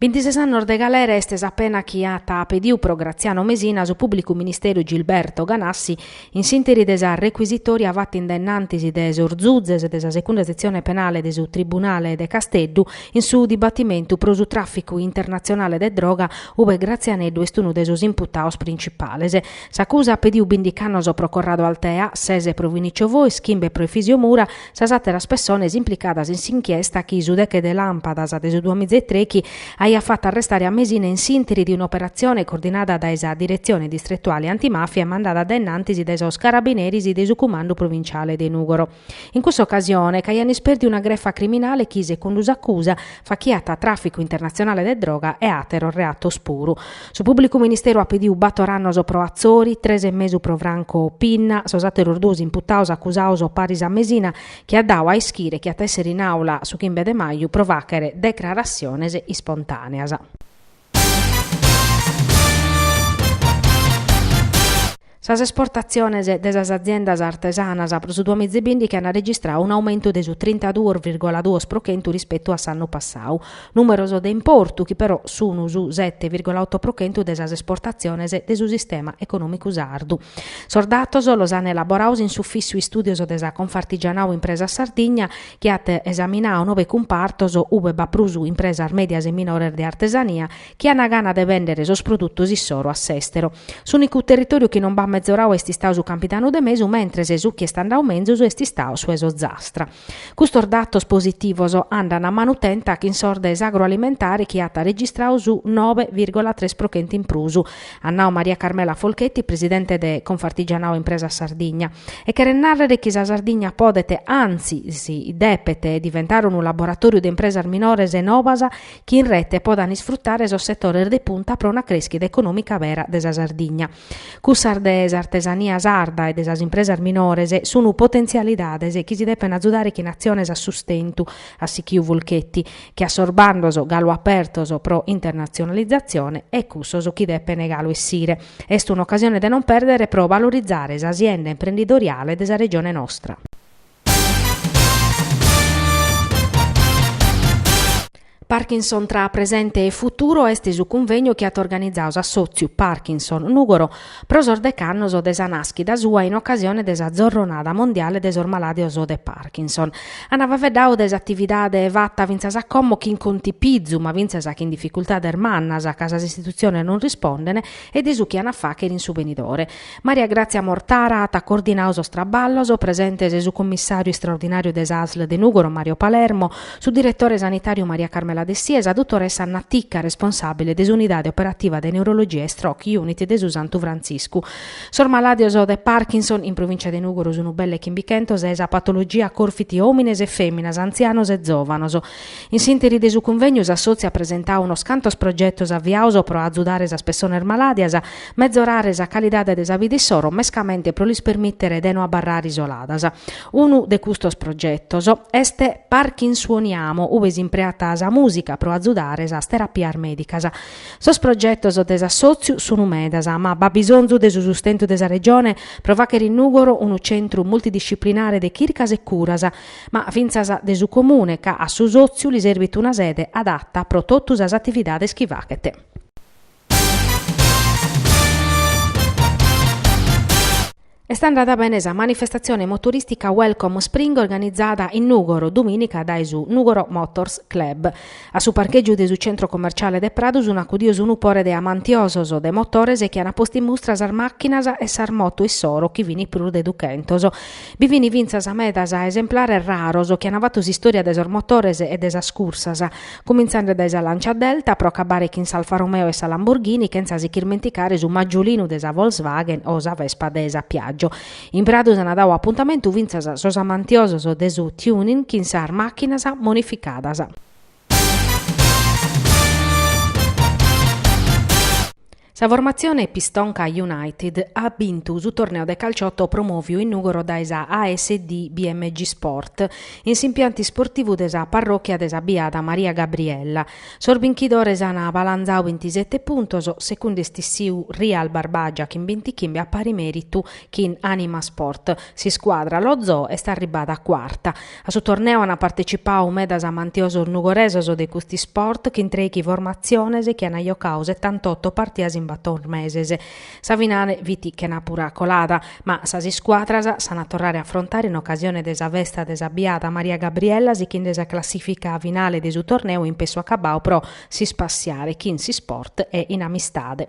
Bintises annos de galera est sa pena chi at pediu pro Graziano Mesina su pùblicu ministeru Gilberto Ganassi in s'interi de sa recuisitòria fata in dennantis de sos zuzes de sa Secunda Setzione Penale de su Tribunale de Casteddu in su dibatimentu pro su tràficu internatzionale de droga ue Grazianeddu est unu de sos imputados printzipales. S'acusa at pediu bindich'annos pro Corrado Altea, sese pro Vinicio Fois, chimbe pro Efisio Mura, sas àteras pessones implicadas in s'inchiesta chi su deche de làmpadas de su duamizaitrechi aiat fatu arrestare a Mesina in s'interi de un'operatzione coordinada dae sa Diretzione Distretuale Antimàfia e mandada dae innantis dae sos carabineris de su Cumandu Provintziale de Nùgoro. In cussa ocasione ch'aian ispèrdiu una grefa criminale chi, secundu s'acusa, fachiat tràficu internatzionale de droga e àteros reatos puru. Su Pùblicu Ministeru at pediu bator annos pro Atzori, tres e mesu pro Franco Pinna, sos àteros duos imputados acusados paris a Mesina, chi at dadu a ischire chi at a èssere in àula su chimbe de maju pro fàchere decraratziones ispontàneas. Sas esportatziones de sas aziendas artesanas pro su duamizibìndichi ant registradu unu aumentu de su trintaduos virgola duos pro chentu rispetu a s'annu passadu, nùmeros de importu chi però sun su sete virgola oto pro chentu de sas esportatziones de su sistema econòmicu sardu. Sos datos los ant elaborados in s'Ufissu Istùdios de sa Confartigianau Impresas Sardigna, chi at esaminadu nove cumpartos ue b'at prus impresas mèdias e minores de artesania chi ana gana de bèndere sos produtos issoro a s'èstero. S'ùnicu territòriu chi non b'at mezoradu est istadu su Campidanu de Mesu, mentres su chi est andadu menzus est istadu su 'e s'Ozastra. Custos datos positivos andan a manu tenta chin sos de s'agroalimentare chi at registradu su nobe virgola tres pro chentu in prus, at nadu Maria Carmela Folchetti, presidente de Confartigianao Impresas Sardigna. E cheret nàrrere chi sa Sardigna podet, antzis depet, diventare unu laboratòriu de impresas minores e nobas chi in rete podan isfrutare sos setores de punta pro una crèschida econòmica vera de sa Sardigna. Cussas de s'artesania sarda e de sas impresas minores sun potentzialidades chi si depen atzudare chin atziones a sustentu, at sichiu Folchetti, che a sos bandos galu apertos pro internatzionalizatzione e cussos chi depen galu essire, est un'ocasione de non pèrdere pro valorizare s'asienda imprendidoriale de sa Regione nostra. Parkinson tra presente e futuro est su cunvegnu chi at organizadu s'assòtziu Parkinson Nùgoro pro sos dech'annos de sa nàschida sua in ocasione de sa Zorronada mondiale de sos malàdios de Parkinson. An faveddau de s'atividade fata fintzas a como chin contipizu ma fintzas chin dificultades mannas ca sas istitutziones non rispondene e de su chi an a fàchere in su benidore. Maria Grazia Mortara at coordinadu sos traballos, presentes su commissàriu istraordinàriu de s'ASL de Nùgoro Mario Palermo, su diretore sanitàriu Maria Carmela Dessì e sa dutoressa Anna Ticca, responsàbile de s'unidade operativa de neurologia e stroke unit de su Santu Frantziscu. Sos malàdios de Parkinson, in provìncia de Nùgoro sunu belle chimbichentos e sa patologia corfit òmines e fèminas, antzianos e zòvanos. In s'ìnteri de su cunvènniu s'assòtziu at presentadu unos cantos progetos aviados pro azudare sas pessones malàdias, Mezorare sa calidade de sa vida issoro mescamente pro lis permìtere de no abarrare isoladas. Unu de custos progetos est Parkin Suoniamo ue s'impreat sa mùsica pro azudare sas terapias mèdicas. Sos progetos de s'assòtziu sunu medas ma b'at bisonzu de su sustentu de sa Regione pro fàghere in Nùgoro unu centru multidisciplinare de chircas e curas ma fintzas de su Comune ca a su sòtziu li serbit una sede adata pro totu sas atividades chi faghet. Est andada bene sa manifestatzione motoristica Welcome Spring organizada in Nùgoro dumìnica dae su Nùgoro Motors Club. A su parchègiu de su centro commerciale de Pradu sunt acudios unu pore de amantiosos de motores chi ant postu in mustra sas màchinas e sas motos issoro chi fini prus de duchentos. Bi fini fintzas medas esemplares raros chi ant fatu s'istòria de sos motores e de sas cursas. Cumintzende dae sa Lancia Delta pro acabare chin s'Alfa Romeo e sa Lamborghini chentza si ch'irmenticare su Maggiolino de sa Volkswagen o sa Vespa de sa Piaggio. In Pradu s'ana dadu apuntamentu fintzas sos amantiosos de su tuning chin sas màchinas modificadas. Sa formatzione Pistonca United at bintu su torneo de calciotto promòviu in Nùgoro dae sa ASD BMG Sport in s'impiantu isportivu de sa parròchia de sa Biada Maria Gabriella. Sos binchidores an balanzadu bintisete puntos, segundu est issiu Real Barbagia chin bintichimbe a pari mèritu chin Anima Sport. S'iscuadra Lo Zoo est arribbada cuarta. A su torneo ant partecipau medas amantiosos nugoresos de cust'isport chin trèichi formatziones chi ant jocau setantotto partidas in bator meses. Sa finale fit chena pura colada, ma sas iscuadras s'ant a torrare a afrontare in ocasione de sa festa de sa biada Maria Gabriella sichende sa classìfica finale de su torneu in pessu acabau pro s'ispassiare chin s'isport e in amistade.